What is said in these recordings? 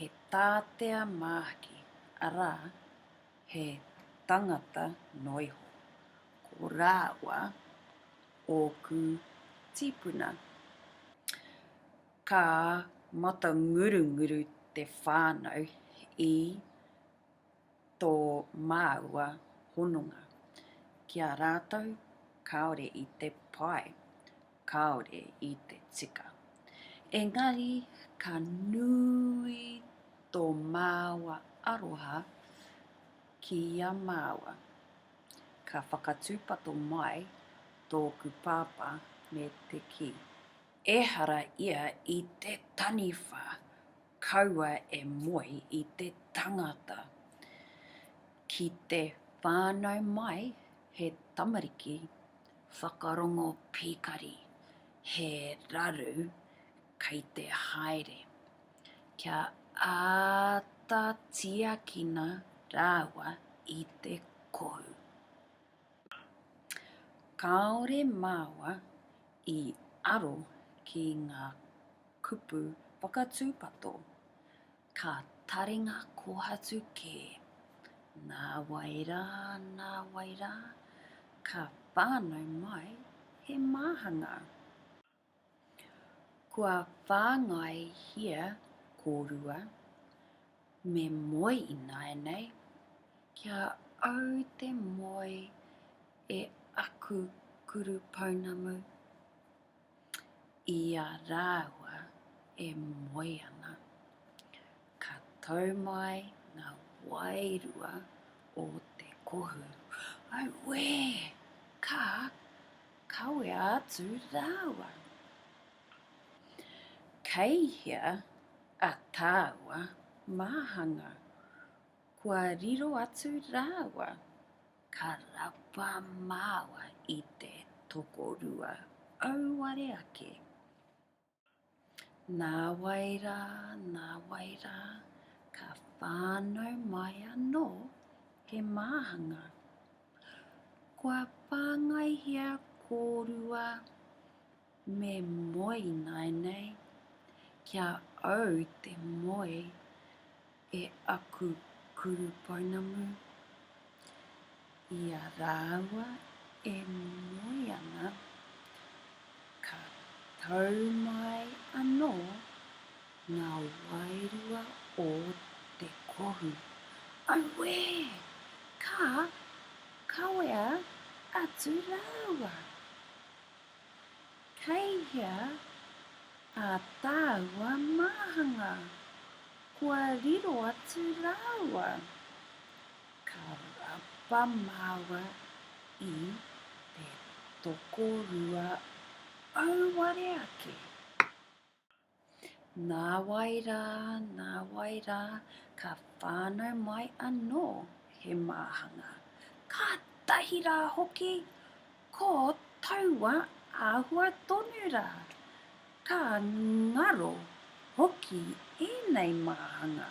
he tātea māhaki, arā, he tangata noa iho. Ko rāua ōku tīpuna. Ka matangurunguru te whānau i tō māua hononga ki a rātou kāore i te pai, kāore i te tika. Engari ka nui tō māua aroha ki a māua. Ka whakatūpato mai tōku pāpā me te kī, Ehara ia i te taniwha Kaua e moe i te tangata. Ki te whānau mai he tamariki whakarongo pīkari, he raru kei te haere. Kia āta tiakina rāua i te kou. Kāore māua i aro ki ngā kupu whakatūpato, ka taringa kōhatu kē. Nā wai rā, nā wai rā, ka whānau mai he māhanga. Kua whāngaihia kōrua, me moe ināianei, kia au te moe e aku kurupounamu. I a rāua e moe ana, ka tau mai ngā wairua o te kohu. Auē! Ka kawea atu rāua. Kei hea a tāua māhanga? Kua riro atu rāua. Ka rapa māua i te tokorua auare ake. Nāwai rā, nāwai rā, ka whānau mai anō he māhanga. Kua whāngaihia kōrua Me moe ināianei, ki a au te moe e aku kuru pounamu, i a rāua e moe ana, ka tau mai anō ngā wairua o te kohu. Auē! Ka kawea atu rāua. Kei hea ā tāua māhanga? Kua riro atu rāua? Ka rapa māua i te tokorua auare ake. Nāwai rā, nāwai rā, ka whānau mai anō he māhanga. Kātahi rā hoki, ko taua āhua tonu rā. Ka ngaro hoki ēnei māhanga.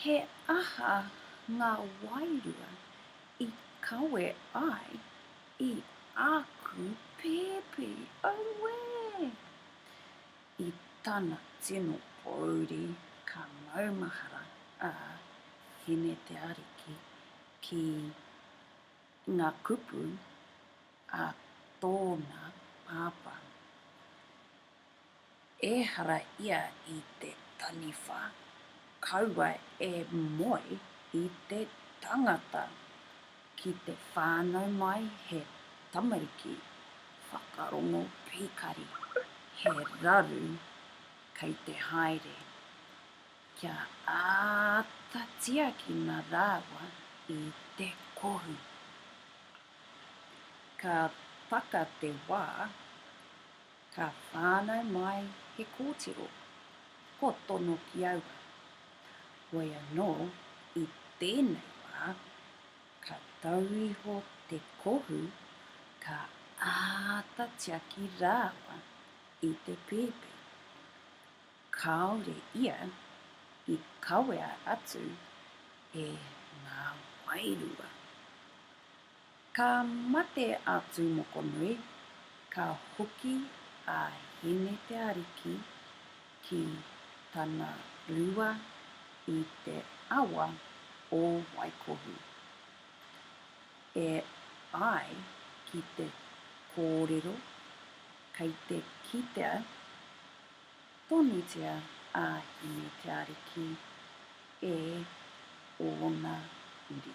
He aha ngā wairua i kawe ai i āku pēpi? Auē! I tana tino pōuri ka maumahara a Hine Te Ariki ki ngā kupu a tōna pāpā. ehara ia i te taniwha, kaua e moe i te tangata ki te whānau mai he tamariki whakarongo pīkari, he raru kei te haere, kia āta tiakina rāua i te kohu. Ka taka te wā. Ka whānau mai he kōtiro, kua tono ki aua. Hoi anō, i tēnei wā, ka tau iho te kohu, ka āta tiaki rāua i te pēpi. Kāore ia i kawea atu e ngā wairua. Ka mate a Tūmokonui, ka hoki a Hine Te Ariki ki tana rua i te awa o Waikohu. E ai ki te kōrero, kei te kitea Tonutia a Hine te Ariki e ōna uri.